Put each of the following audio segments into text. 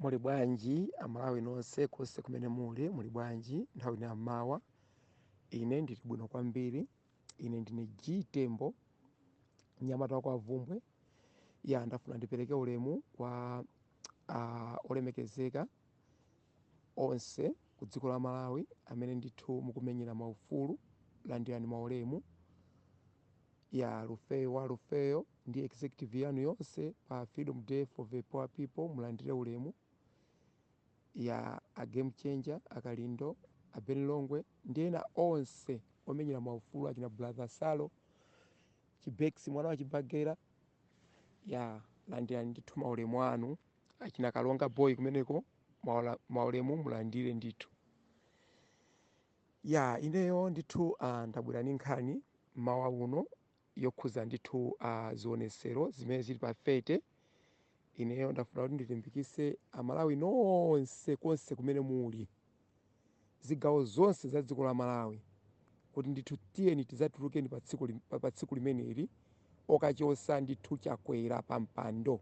muli bwanji amalawi nonse konse kumene muli muli bwanji nthawi ino yammawa ine ndili bwino kwambiri ine ndine g tembo mnyamata wa kwa vumbwe ya ndafuna ndipereke ulemu kwa uh, olemekezeka onse ku dziko la Malawi amene ndithu mukumenyera ma ufulu landirani ma ulemu ya Lufeyo wa Lufeyo ndi executive yanu yonse pa Freedom for the Poor People mulandire ulemu ya a Game Changer akalindo a Ben Longwe ndi ena onse omenyera ma ufulu achina brother Salo Chibex mwana wa Chibagera ya landirani ndithu ma ulemu anu achina kalonga boy kumeneko maulemu mulandire ndithu ya ineyo ndithu uh, ndabwera ndi nkhani mmawa uno yokhuza ndithu uh, zionesero zimene zili pa 30 ineyo ndafuna kuti ndilimbikise amalawi nonse konse kumene muli zigawo zonse za dziko la Malawi kuti ndithu tiyeni tidzatulukeni pa tsiku limeneli lokachosa ndithu chakwera pa mpando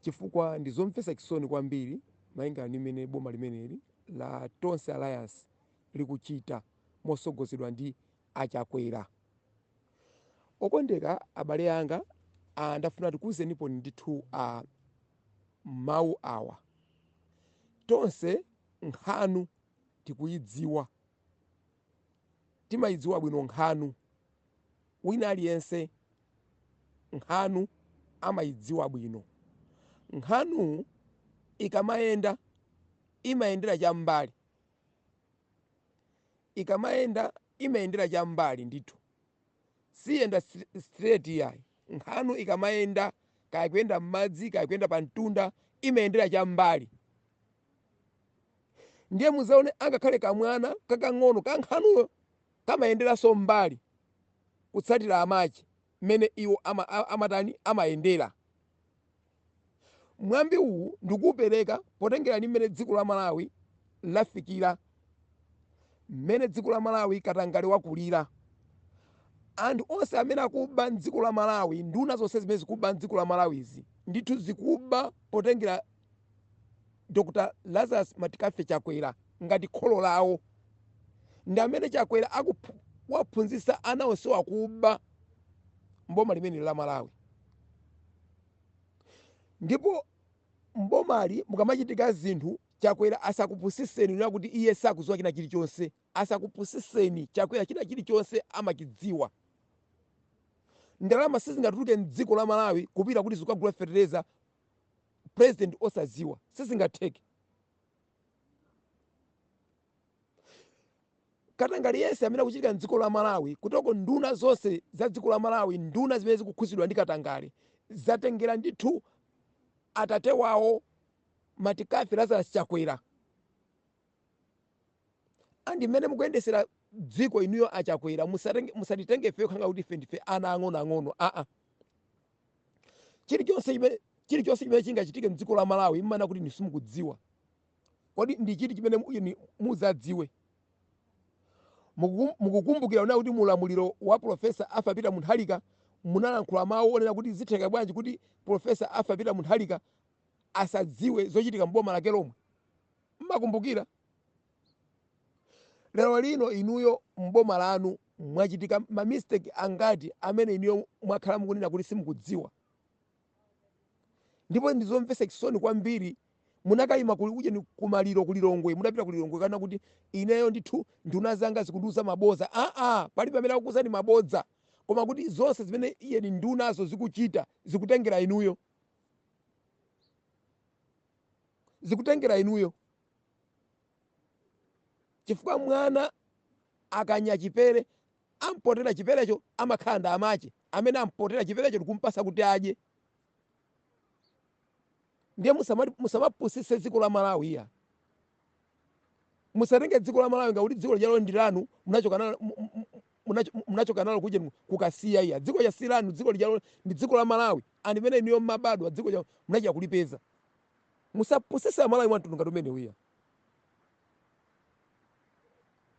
chifukwa ndi zomvetsa chisoni kwambiri malingana ndi mmene boma limeneli la tonse alliance likuchita mosogozedwa ndi achakwera okondeka abale anga ah, ndafuna tikuwuzenipo ndithu ah, mawu awa. Tonse nkhanu tikuyidziwa. Timayidziwa bwino nkhanu. Wina aliyense nkhanu amayidziwa bwino. Nkhanu ikamayenda imayendera cham'mbali. Ikamayenda imayendera cham'mbali ndithu. Siyenda straight iyayi. Nkhanu ikamayenda, kaya kuyenda m'madzi, kaya kuyenda pa mtunda, imayendera cham'mbali. Ndiye mudzaone angakhale kamwana kakang'ono ka nkhanuyo kamayenderanso m'mbali kutsatira amache mmene iwo amatani, amayendera. Mwambi uwu ndikuupereka potengera ndi mmene dziko la Malawi lafikira, mmene dziko la Malawi katangale wakulira. Anthu onse amene akuba m'dziko la Malawi, nduna zonse zimene zikuba m'dziko la Malawizi, ndithu zikuba potengera Dr Lazarus McCarthy Chakwera ngati kholo lawo. Ndi amene Chakwera wawaphunzitsa ana onsewa kuba m'boma limeneli la Malawi. Ndipo m'bomali mukamachitika zinthu Chakwera asakupusiseni kunena kuti iye sakuziwa china chilichonse asakupusiseni Chakwera china chilichonse amachidziwa. Ndalama sizingatuluke mdziko la Malawi kupita kuti zikagula fetereza president osaziwa sizingatheke. katangale yense amene akuchitika mdziko la malawi kuti nduna zonse za dziko la malawi nduna zimene zikukhuzidwa ndi katangale zatengera ndithu atate wawo matikafe lazarus chakwera andi mmene mukuyendesera dziko inuyo achakwera musatenge- musatitenge ifeyo khanga kuti ife ndife ana ang'onoang'ono aa chilichonse chimene chilichonse chimene chingachitike mdziko la malawi mmanena kuti simukudziwa Kodi ndi chiti chimene mudzadziwe? Mukukumbukira kunena kuti mu ulamuliro wa Professor Arthur Peter Mutharika munalankhula mawu onena kuti zitheka bwanji kuti Professor Arthur Peter Mutharika asadziwe zochitika m'boma lake lomwe? Mmakumbukira? Lero lino inuyo m'boma lanu mwachitika mamisteki angati amene inuyo mwakhala mukunena kuti simukudziwa? ndipo ndizomvesa chisoni kwambiri munakayima kuli ujeni kumaliro kulilongwe mudapita kulilongwe kukanena kuti ineyo ndithu nduna zanga zikundiuza mabodza aa palibe amene akukuuzani mabodza koma kuti zonse zimene ujeni ndunazo zikuchita zikutengera inuyo zikutengera inuyo chifukwa mwana akanya chipere Ampotela chipelecho amakhala ndi amache amene ampotela chipelecho nkumpasa kuti adye ndiye musamati musamapusise dziko la Malawi iyaa musatenge dziko la Malawi ngakuti dziko lijalo ndilanu munachoka nalo munachoka nalo kuja kukasiya iyaa dziko lija silanu dziko lijalo ndi dziko la Malawi and mene inuyo mmabadwa dziko lija munachita kulipeza musapusise a Malawi mwa mtundu ngati umenewu iyaa.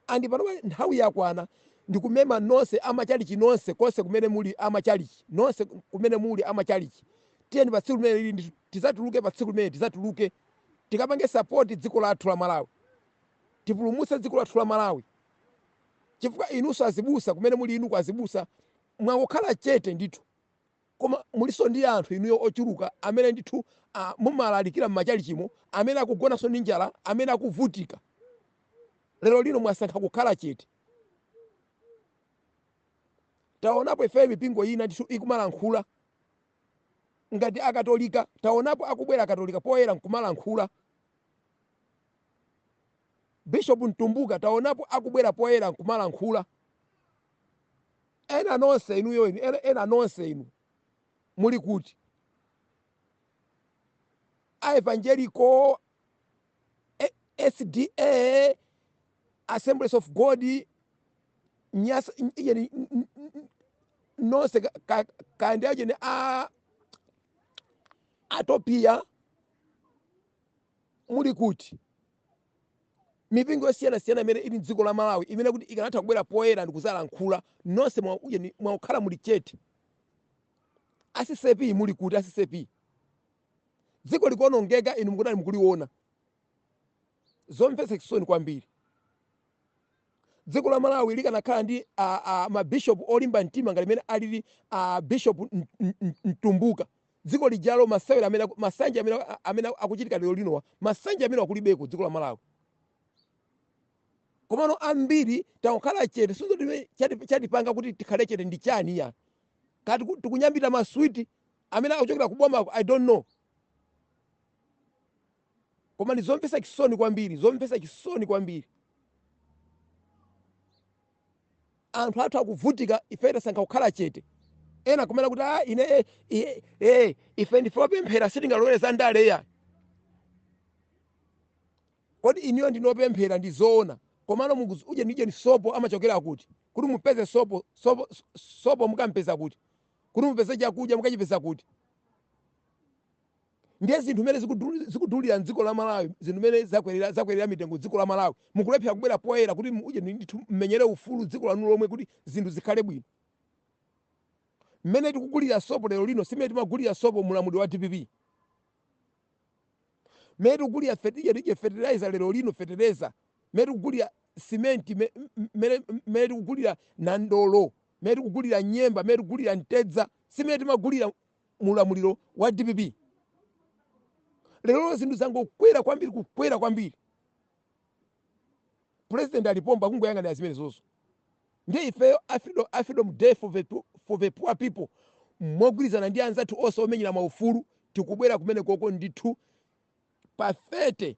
And panopa nthawi yakwana ndikumema nonse a machalichi nonse konse kumene muli a machalichi nonse kumene muli a machalichi tiyeni pa tsiku limene tizatuluke pa tsiku limene tizatuluke tikapange support dziko lathu la Malawi tipulumutse dziko lathu la Malawi chifukwa inunso azibusa kumene muli inu azibusa mwangokhala chete ndithu Koma mulinso ndi anthu inuyo ochuluka amene ndithu a, mumalalikira m'machalichimo amene akugonanso ndi njala, amene akuvutika. Lero lino mwasankha kukhala chete. Taonapo ifeyo mipingo ina ndithu ikumalankhula ngati a Katolika, taonapo akubwera a Katolika poyera nkumalankhula. Bishop Mtumbuka taonapo akubwera poyera nkumalankhula. Ena nonse inuyo inu ena ena nonse inu muli kuti? A evangelical, A sda, Assemblies of God, Nyasa iyeni nonse ka- ka- kaya ndi ujeni a Atopia Muli kuti mipingo yosiyana siyana imene ili mdziko la Malawi imene kuti ikanatha kubwera poyera ndikuzalankhula? Nonse mwangokhala muli chete. A ccap muli kuti a ccap? Dziko likuonongeka inu mukutali mukuliona. Zomvetsa chisoni kwambiri. Dziko la Malawi likanakhala ndi ma bishop olimba mtima ngati mmene alili a Bishop Mtumbuka Dziko lijalo masewera masanje amene amene akuchitika lero linowa masanje amene akulibeko dziko la Malawi komano ambiri takukhala chete sindizo chati chatipanga kuti tikhale chete ndi chani ya kaya tikunyambita maswiti amene akuchokera kubomako i don't know koma ndi zomvetsa chisoni kwambiri zomvetsa chisoni kwambiri anthu athu akuvutika ife tasankha kukhala chete ena kumanena kuti ah, ine eh, eh, eh, ife ndife opemphera sitingalowere za ndale ya kodi inuyo ndinu opemphera ndi zoona komano mukuzi ujeni ujeni sopo amachokera kuti kuti mupeze sopo sopo sopo mukampeza kuti kuti mupeze chakudya mukachipeza kuti ndiye zinthu mene zikudulira mdziko la Malawi zinthu mene zakwerera zakwerera mitengo mdziko la Malawi mukulephera kubwera poyera kuti ujeni ndithu mumenyere ufulu mdziko lanu lomwe kuti zinthu zikhale bwino mmene tikugulira sopo lero lino simene timagulira sopo muulamuliro wa DPP mmene tikugulira fetije tije fertilizer lero lino fetereza mmene tikugulira simenti me- m- mmene mmene tikugulira nandolo mmene tikugulira nyemba mmene tikugulira mtedza simene timagulira mu ulamuliro wa dpp lero zinthu zangokwera kwambiri kukwera kwambiri president ali pompa kungoyang'anira zimenezozo ndiye ifeyo a freedom, a freedom day for the, po- for the poor people mogwirizana ndi anzathu onse omenyera maufulu tikubwera kumeneko ko ndithu pa 30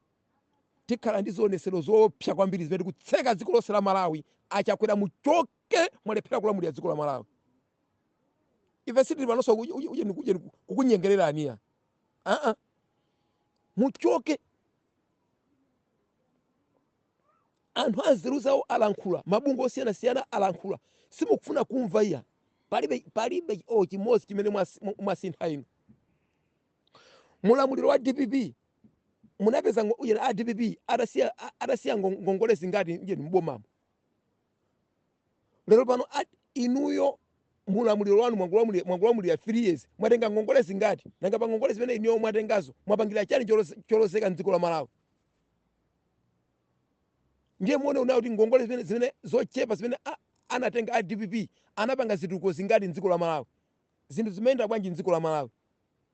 tikhala ndi zionetsero zoopsa kwambiri zimene tikutseka dziko lonse la malawi achakwera muchoke mwalephera kulamulira dziko la malawi ife sitili panonso kuj- uj- ujeni kujeni ku- kukunyengererani ya aa muchoke anthu anzeru zawo alankhula mabungwe osiyanasiyana alankhula simukufuna kumva iya palibe palibe olo chimodzi chimene mwasi- mu- mwasintha inu muulamuliro wa dpp munapeza ngo- ujeni a dpp atasiya a- atasiya ngo- ngongole zingati ujeni mbomamo lero pano inuyo mulamuliro wanu mwangolamulira 3 years mwatenga ngongole zingati nanga pa ngongole zimene inuyo mwatengazo mwapangira chani cholozeka mdziko la malawi ndiye muone inuyo kuti ngongole zimene zochepa zimene a- anatenga a dpp anapanga zitukuko zingati mdziko la malawi zinthu zimayenda bwanji mdziko la malawi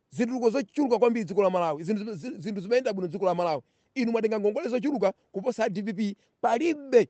zitukuko zochuluka kwambiri dziko la malawi zinthu zime- zi- zinthu zimayenda bwino dziko la malawi inu mwatenga ngongole zochuluka kuposa a dpp palibe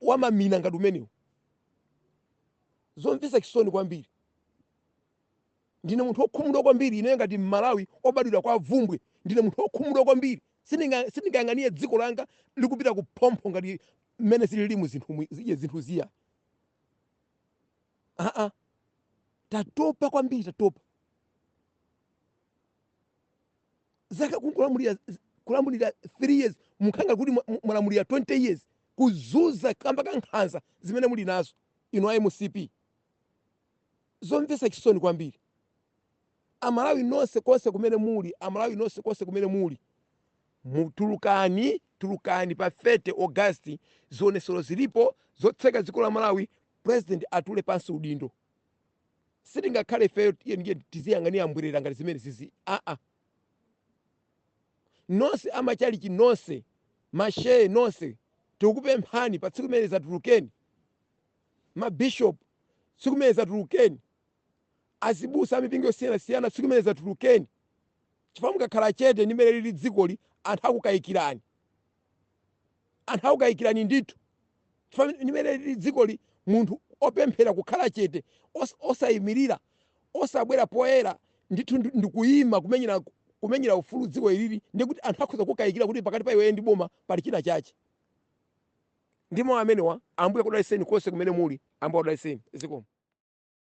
wa mamina ngati umenewu zomvetsa chisoni kwambiri ndine munthu wokhumudwa kwambiri ineyo ngati mmalawi obadwira kwa vumbwe ndine munthu wokhumudwa kwambiri Sindingayang'anire dziko langa likupita ku phompho ngati mmene zililimu zinthu ziya aa tatopa kwambiri tatopa zaka kungolamulira kulamulira 3 years mukhala nga kuti mwalamulira 20 years kuzuza kamba ka nkhanza zimene muli nazo inu a mcp zomvetsa chisoni kwambiri amalawi nonse konse kumene muli amalawi nonse konse kumene muli mutulukani tulukani pa 30 augasti zionesero zilipo zotseka dziko la malawi president atule pansi udindo sitingakhale ifeyo tiyeni tiziyang'anira mbwerera ngati zimene zizi aa nonse amachalichi nonse mashehe nonse tikukupemphani pa tsiku limene zatulukeni mabishop tsiku limene zatulukeni azibusa amipingo yosiyanasiyana tsiku limene zatulukeni chifukwa mukakhala chete ndi mmene lili dzikoli anthu akukayikirani anthu akukayikirani ndithu chifukwa ndi mmene lili dzikoli munthu opemphera kukhala chete osayimirira osabwera poyera ndithu ndikuyima kumenyera ufulu dziko ilili ndiye kuti anthu akhoza kukayikira kuti pakati pa iweyo ndi boma pali china chache ndi mawu amenewa ambuye akudaliseni konse kumene muli ambuye akudaliseni zikomo